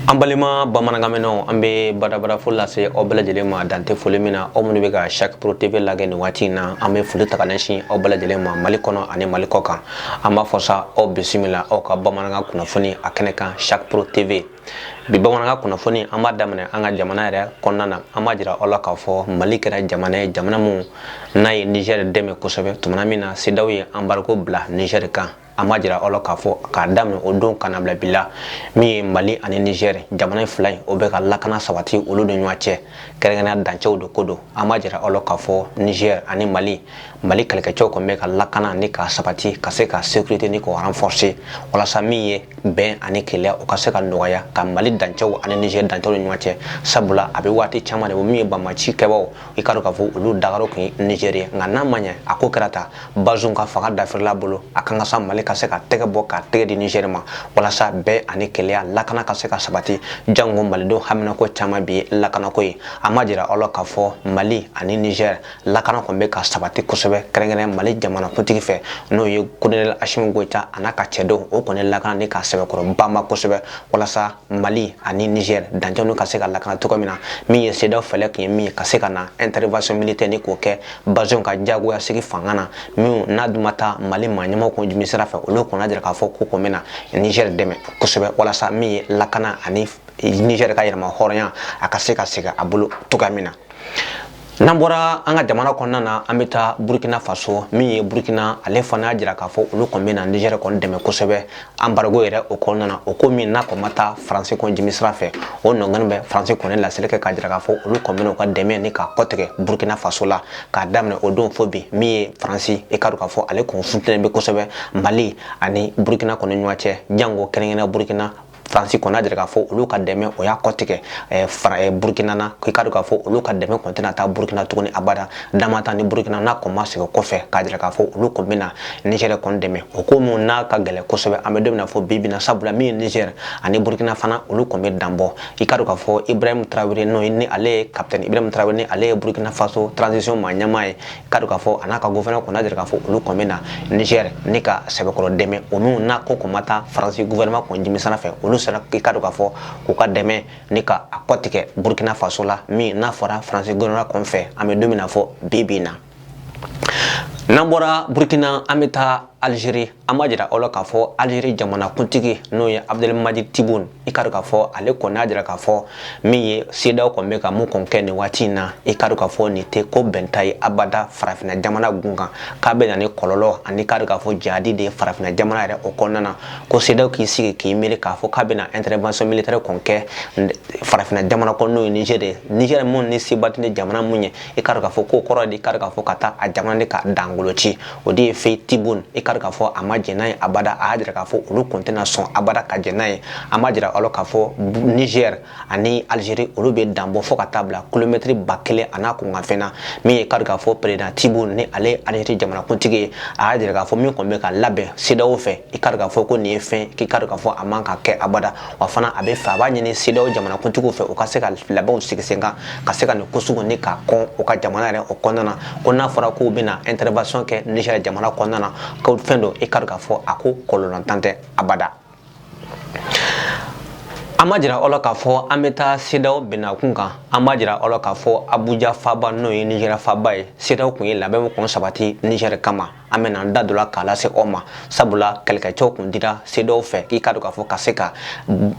An balima bamanankanmɛnnaw an bɛ badabada fo lase aw bɛɛ lajɛlen ma dan tɛ foli min na aw minnu bɛ ka sap pro TV lajɛ nin waati in na an bɛ foli ta k'a ɲɛsin aw bɛɛ lajɛlen ma mali kɔnɔ ani mali kɔ kan an b'a fɔ sa aw bisimila aw ka bamanankan kunnafoni a kɛnɛ kan sap pro TV bi bamanankan kunnafoni an b'a daminɛ an ka jamana yɛrɛ kɔnɔna na an b'a jira aw la k'a fɔ mali kɛra jamana ye jamana min n'a ye nizɛri dɛmɛ kosɛbɛ tumana min na CEDEAO ye embargo bila nizɛri kan an b'a jira aw la k'a fɔ k'a daminɛ o don ka na a bila bi la min ye mali ani nizɛri jamana fila in o bɛ ka lakana sabati olu ni ɲɔgɔn cɛ kɛrɛnkɛrɛnya dancɛw de ko don an b'a jira aw la k'a fɔ nizɛri ani mali mali kɛlɛkɛcɛw kɔni bɛ ka lakana ni ka sabati ka se ka sécurité ni k'o renforcer walasa min ye bɛn ani kelenya o ka se ka nɔgɔya ka mali dancɛw ani niger dancɛw ni ɲɔgɔn cɛ sabula a bɛ waati caman de bɔ min ye banbaanci kɛbaaw i ka dɔn k'a fɔ olu dagayɔrɔ kun ye niger ye nka n'a ma ɲɛ a ko kɛra ta bazum ka fanga dafirila bolo a kan ka sa mali ka se ka tɛgɛ bɔ ka tɛgɛ di niger ma walasa bɛn ani kelenya lakana ka se ka sabati jango malidenw haminako caman bi lakanako ye an b'a jira aw la k'a fɔ mali ani niger lakana kɔni bɛ ka sabati kosɛbɛ kɛrɛnkɛrɛn mali jamanakuntigi fɛ n'o ye kolonɛli asimi goyita a n'a ka cɛdenw o kɔni lakana ni ka sɛbɛkɔrɔ banban kosɛbɛ walasa mali ani niger dancɛ ninnu ka se ka lakana cogo min na min ye CEDEAO fɛɛrɛ tun ye min ka se ka na intervention militaire ni k'o kɛ bazum ka jagoya sigi fanga na min n'a dun ma taa mali maa ɲɛmaaw kɔn jimi sira fɛ olu kɔni y'a jira k'a fɔ k'u kɔn bɛna niger dɛmɛ kosɛbɛ walasa min ye lakana ani niger ka yɛrɛmahɔrɔnya a ka se ka segin a bolo cogoya min na N'an bɔra an ka jamana kɔnɔna na an bɛ taa burukina faso min ye burukina ale fana y'a jira k'a fɔ olu kɔni bɛna nizɛri kɔni dɛmɛ kosɛbɛ embargo yɛrɛ o kɔnɔna na o ko min n'a kɔni ma taa faransi kɔn jimi sira fɛ o nɔn bɛ faransi kɔni laseli kɛ k'a jira k'a fɔ olu kɔni u ka dɛmɛ ni ka kɔtigɛ burukina faso la k'a daminɛ o don fo bi min ye faransi ye i ka dɔn k'a fɔ ale kun funun bɛ kosɛbɛ mali ani burukina kɔni ɲɔgɔn cɛ jango kɛrɛnkɛrɛnnenya burukina faransi kɔni y'a jira k'a fɔ olu ka dɛmɛ o y'a kɔtigɛ eh, fara eh, burukina na k'i ka dɔn k'a fɔ olu ka dɛmɛ kɔni tɛna taa burukina tuguni abada dama ta ni burukina n'a kɔn ma segin kɔfɛ k'a jira k'a fɔ olu kɔni bɛna nizɛri kɔni dɛmɛ o ko min n'a ka gɛlɛn kosɛbɛ an bɛ don min na fo bi bi in na sabula min ye nizɛri ani burukina fana olu kɔni bɛ dan bɔ i ka dɔn k'a fɔ ibrahim tarawele n'o ye ni ale ye kapitɛni ibrahim tarawele ni ale ye burukina faso transition maa ɲɛmaa ye ka dɔn k'a fɔ a n'a ka gouvernement kɔni deli k'a fɔ olu kɔn bɛ na Niger ni ka sɛbɛkɔrɔ dɛmɛ o min n'a ko kɔn ma taa Faransi gouvernement kɔn jimi sira fɛ olu sera i ka dɔn k'a fɔ k'u ka dɛmɛ ni ka a kɔtigɛ Burkina Faso la min n'a fɔra Faransi gouvernement kɔn fɛ an bɛ don min na fo bi bi in na n'an bɔra Burkina an bɛ taa Algérie an b'a jira aw la k'a fɔ Algérie jamanakuntigi n'o ye Abdelmadjid Tebboune i ka k'a fɔ ale kɔni y'a jira k'a fɔ min ye sedaw kɔni bɛ ka mun kɔni kɛ nin waati in na i ka k'a fɔ nin tɛ ko bɛnta ye abada farafinna jamana gun kan k'a bɛ na ni kɔlɔlɔ ani ka k'a fɔ jahadi de ye farafinna jamana yɛrɛ o kɔnɔna na ko sedaw k'i sigi k'i miiri k'a fɔ k'a bɛna intervention militaire kɔni kɛ farafinna jamana kɔnɔ n'o ye Niger ye Niger mun ni se ba tɛ jamana mun ye i ka k'a fɔ k'o kɔrɔ de i ka k'a fɔ ka taa a jamana de ka dangolo ci o de ye fɛn tibon i k'a k'a fɔ a ma jɛn n'a ye abada a y'a jira k'a fɔ olu kɔni tɛna sɔn abada ka jɛn n'a ye an b'a jira aw la k'a fɔ nizɛri ani alizeri olu bɛ dan bɔ fɔ ka taa bila kilomɛtiri ba kelen a n'a kunkanfɛn na min ye k'a k'a fɔ peresidan tibon ni ale ye alizeri jamanakuntigi ye a y'a jira k'a fɔ min kɔni bɛ ka labɛn sedaw fɛ i k'a k'a fɔ ko nin ye fɛn k'i k'a k'a fɔ a man ka kɛ abada wa fana a b'a fɛ a b'a ɲini sedaw jamanakuntigiw fɛ u ka se ka labɛnw sigi sen kan ka se ka nin ko sugu ni k'a kɔn u ka jamana yɛrɛ o kɔnɔna na ko n'a fɔra k'u bɛna intervention kɛ Niger jamana kɔnɔna na ko fɛn don i ka dɔn k'a fɔ a ko kɔlɔlɔntan tɛ abada an b'a jira aw la k'a fɔ an bɛ taa sedaw bɛnnakun kan an b'a jira aw la k'a fɔ abuja faaba n'o ye nizeriya faaba ye sedaw tun ye labɛn kun sabati nizɛri kama an bɛna an da don a la k'a lase aw ma sabula kɛlɛkɛcɛw kun dira sedaw fɛ k'i k'a dɔn k'a fɔ ka se ka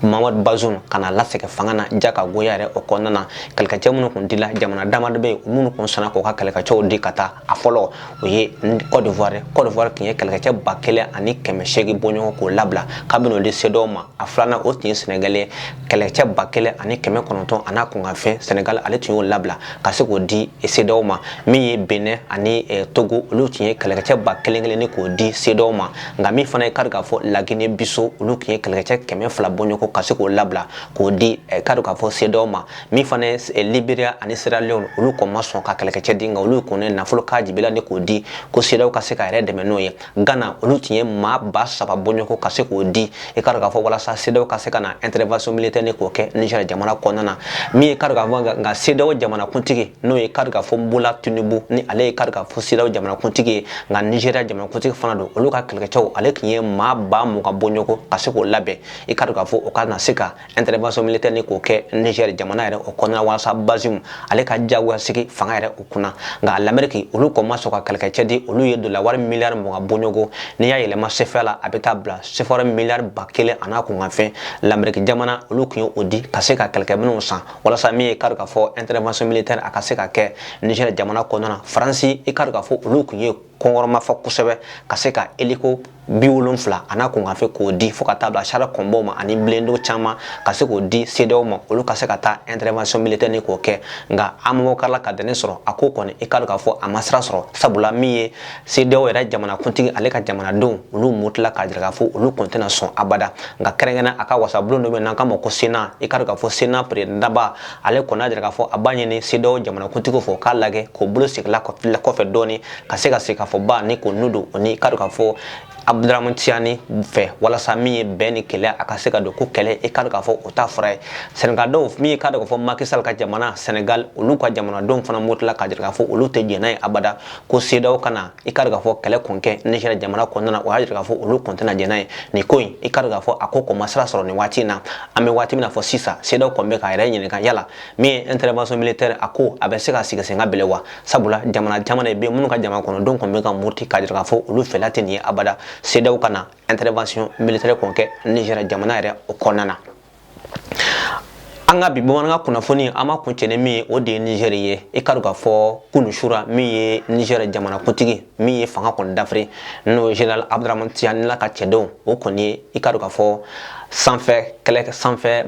mamadu bazum ka na lasegin fanga na ja ka goya yɛrɛ o kɔnɔna na kɛlɛkɛcɛ minnu kun dila jamana dama dɔ bɛ yen minnu kun sɔnna k'u ka kɛlɛkɛcɛw di ka taa a fɔlɔ o ye cote d'ivoire cote d'ivoire tun ye kɛlɛkɛcɛ ba kelen ani kɛmɛ seegin bɔɲɔgɔn k'o labila kabini o di sedaw ma a filanan o tun ye sɛnɛgali ye kɛlɛkɛcɛ ba kelen ani kɛmɛ kɔnɔntɔn a n'a kunkanfɛn sɛnɛgali ale tun y'o labila ka se k'o di sedaw ma min ye benɛn ani eh, togo olu tun ye kɛlɛkɛcɛ ba kelen kelen ni k'o di sedaw ma nka min fana ye kari k'a fɔ lagine bisawo olu tun ye kɛlɛkɛcɛ kɛmɛ fila bɔɲɔgɔn ka se k'o labila k'o di eh, kari k'a fɔ sedaw ma min fana ye eh, liberia ani sierra leone olu kɔni ma sɔn ka kɛlɛkɛcɛ di nka olu kɔni nafolo k'a jibila ni k'o di ko sedaw ka se k'a yɛrɛ dɛmɛ n'o ye Ghana olu tun ye maa ba saba bɔɲɔgɔn ka se k'o di i ka k'a fɔ walasa sedaw ka se ka na intervention militaire ni k'o kɛ Niger jamana kɔnɔna na min ye kari k'a fɔ nka sedaw jamanakuntigi n'o ye kari k'a fɔ Bola Tinubu ni ale ye kari k'a fɔ sedaw jamanakuntigi ye nka Nigeria jamanakuntigi fana don olu ka kɛlɛkɛcɛw ale tun ye maa ba mugan bɔɲɔgɔn ka se k'o labɛn i ka k'a fɔ o ka na se ka intervention militaire ni k'o kɛ Niger jamana yɛrɛ o kɔnɔna walasa Bazoum ale ka jagoya sigi fanga yɛrɛ o kɔnɔna nka l'Amérique olu kɔni ma sɔn ka kɛlɛkɛcɛ di olu ye dola wari miliyari mugan bɔɲɔgɔn n'i y'a yɛlɛma CFA la a bɛ taa bila CFA miliyari ba kelen a n'a kunkanfɛn l'Amérique jamana olu tun ye o di ka se ka kɛlɛkɛminɛnw san walasa min ye kari k'a fɔ intervention militaire a ka se ka kɛ Niger jamana kɔnɔna na Faransi i kari k'a fɔ olu tun ye kɔnkɔrɔma fɔ kosɛbɛ ka se ka eliko bi wolonfila a n'a kunkanfɛn k'o di fo ka taa bila char de combatw ma ani blindé caman ka se k'o di sedaw ma olu ka se ka taa intervention militaire nin ko kɛ nka amamo karila ka dɛmɛ sɔrɔ a ko kɔni i k'a dɔn k'a fɔ a ma sira sɔrɔ sabula min ye sedaw yɛrɛ jamanakuntigi ale ka jamanadenw olu murutila k'a jira k'a fɔ olu kɔni tɛna sɔn abada nka kɛrɛnkɛrɛn a ka wasabulon dɔ bɛ n'an k'a ma ko sena i k'a dɔn k'a fɔ sena peredaba ale kɔni y'a jira k'a fɔ a b'a ɲini sedaw jamanakuntigi fɛ k'a lajɛ k'o bolo segila kɔfɛ dɔɔni ka se ka sigikafɔba nin kɔni don o ni i k'a dɔn k'a fɔ abdurahman tiyani fɛ walasa min ye bɛn ni kelenya a ka se ka don ko kɛlɛ i k'a dɔn k'a fɔ o t'a fura ye sɛnɛgaldenw min ye i k'a dɔn k'a fɔ maki sal ka jamana sɛnɛgal olu ka jamanadenw fana murutila k'a jira k'a fɔ olu tɛ jɛn n'a ye abada ko sedaw kana i ka k'a fɔ kɛlɛ kɔni kɛ nizɛri jamana kɔnɔna na o y'a jira k'a fɔ olu kɔni tɛna jɛn n'a ye nin ko in i ka k'a fɔ a ko kɔni ma sira sɔrɔ nin waati in na an bɛ waati min na fɔ sisan sedaw kɔni bɛ k'a yɛrɛ ɲininka yala min ye intervention militaire a ko a bɛ se ka sigi sen ka bilen wa sabula jamana caman de bɛ yen minnu ka jamana kɔnɔdenw kɔni bɛ ka muruti k'a jira k'a fɔ olu fɛla tɛ nin ye abada sedaw kana intervention militaire kɔni kɛ nizɛri jamana yɛrɛ o kɔnɔna na an ka bi bamanankan kunnafoni an b'a kuncɛ ni min ye o de ye nizɛri ye i k'a dɔn k'a fɔ kunu sura min ye nizɛri jamanakuntigi min ye fanga kɔni dafiri n'o ye general abdurahman tiyani ale ka cɛdenw o kɔni ye i k'a dɔn k'a fɔ sanfɛ kɛlɛ sanfɛ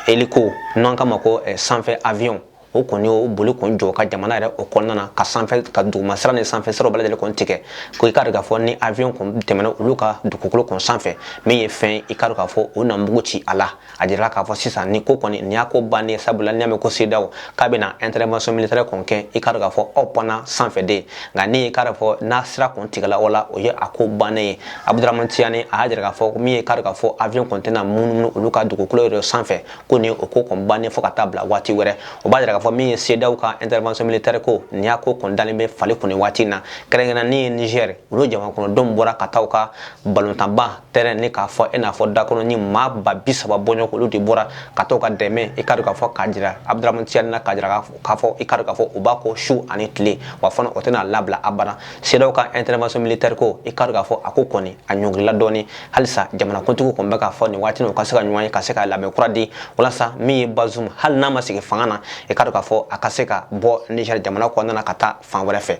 eliko n'an k'a ma ko sanfɛ avion o kɔni o boli kɔni jɔ ka jamana yɛrɛ o kɔnɔna na ka sanfɛ ka duguma sira ni sanfɛ siraw bɛɛ lajɛlen kɔni tigɛ ko i k'a dɔn k'a fɔ ni avion kɔni tɛmɛna olu ka dugukolo kɔni sanfɛ min ye fɛn i k'a dɔn k'a fɔ o na mugu ci a la a jirala k'a fɔ sisan nin ko kɔni nin y'a ko bannen sabula n'i y'a mɛn ko sedaw k'a bɛna intervention militaire kɔni kɛ i k'a dɔn k'a fɔ aw bɛ na sanfɛ de nka ni i k'a dɔn k'a fɔ n'a sira kɔni tigɛla o la o ye a ko bannen ye abudramani tiyani a y'a jira k'a fɔ min ye i k'a dɔn k'a fɔ avion kɔni tɛna munumunu olu ka dugukolo yɛrɛ sanfɛ ko ni o ko kɔni bannen fo ka taa bila waati wɛrɛ o b'a jira k'a fɔ min ye sedaw ka intervention militaire ko nin y'a ko kɔni dalen bɛ fali kun waati na kɛrɛnkɛrɛn min ye niger olu jamana kɔnɔdenw bɔra ka taa u ka balontanba tɛrɛn ni k'a fɔ i n'a fɔ stade kɔnɔ ni maa ba bi saba bɔɲɔgɔn olu de bɔra ka taa u ka dɛmɛ i ka k'a fɔ k'a jira abdurahman tiyani na k'a jira k'a fɔ i ka k'a fɔ u b'a kɔ su ani tile wa fana o tɛn'a labila abada sedaw ka intervention militaire ko i ka k'a fɔ a ko kɔni a ɲɔngirila dɔɔni halisa jamanakuntigiw kɔni bɛ k'a fɔ nin waati u ka se ka ɲɔgɔn ye ka se ka labɛn kura di walasa min ye bazum hali n'a ma sigi fanga na i k'a dɔn k'a fɔ a ka se ka bɔ nizɛri jamana kɔnɔna na ka taa fan wɛrɛ fɛ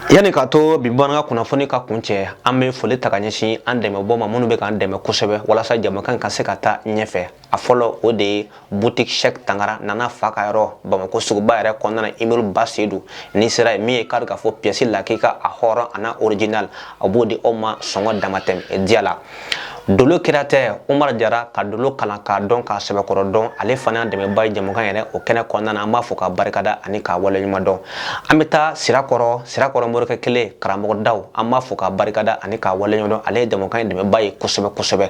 yanni k'a to bi bamanankan kunnafoni ka kuncɛ an bɛ foli ta ka ɲɛsin an dɛmɛbaaw ma minnu bɛ k'an dɛmɛ kosɛbɛ walasa jamakan ka se ka taa ɲɛfɛ a fɔlɔ o de ye boutique cheick tangara nana fa ka yɔrɔ bamakɔ suguba yɛrɛ kɔnɔna na immeuble ba sedu n'i sera yen min ye k'a k'a fɔ pièce lakika a hɔrɔn a n'a original a b'o di aw ma sɔngɔ damatɛmɛ diya la dolo kira tɛ umar jara ka dolo kalan k'a dɔn k'a sɛbɛkɔrɔ dɔn ale fana y'a dɛmɛba ye jɛmukan yɛrɛ o kɛnɛ kɔnɔna na an b'a fɔ ka barikada ani k'a waleɲuman dɔn an bɛ taa sirakɔrɔ sirakɔrɔ morikɛ kelen karamɔgɔ daw an b'a fɔ ka barikada ani k'a waleɲuman dɔn ale ye jɛmukan in dɛmɛba ye kosɛbɛ kosɛbɛ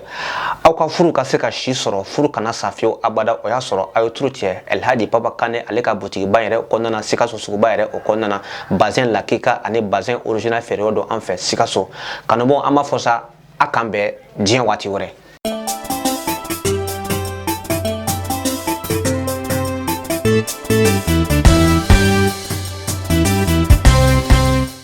aw ka furu ka se ka si sɔrɔ furu kana sa fiyewu abada o y'a sɔrɔ aw ye turu cɛ alhaji papa kane ale ka butigiba yɛrɛ kɔnɔna na sikaso suguba yɛrɛ o kɔnɔna na bazɛn lakika ani bazɛn original feere yɔrɔ don an fɛ sikaso kanubaw an b'a fɔ sa a k'an bɛn diɲɛ waati wɛrɛ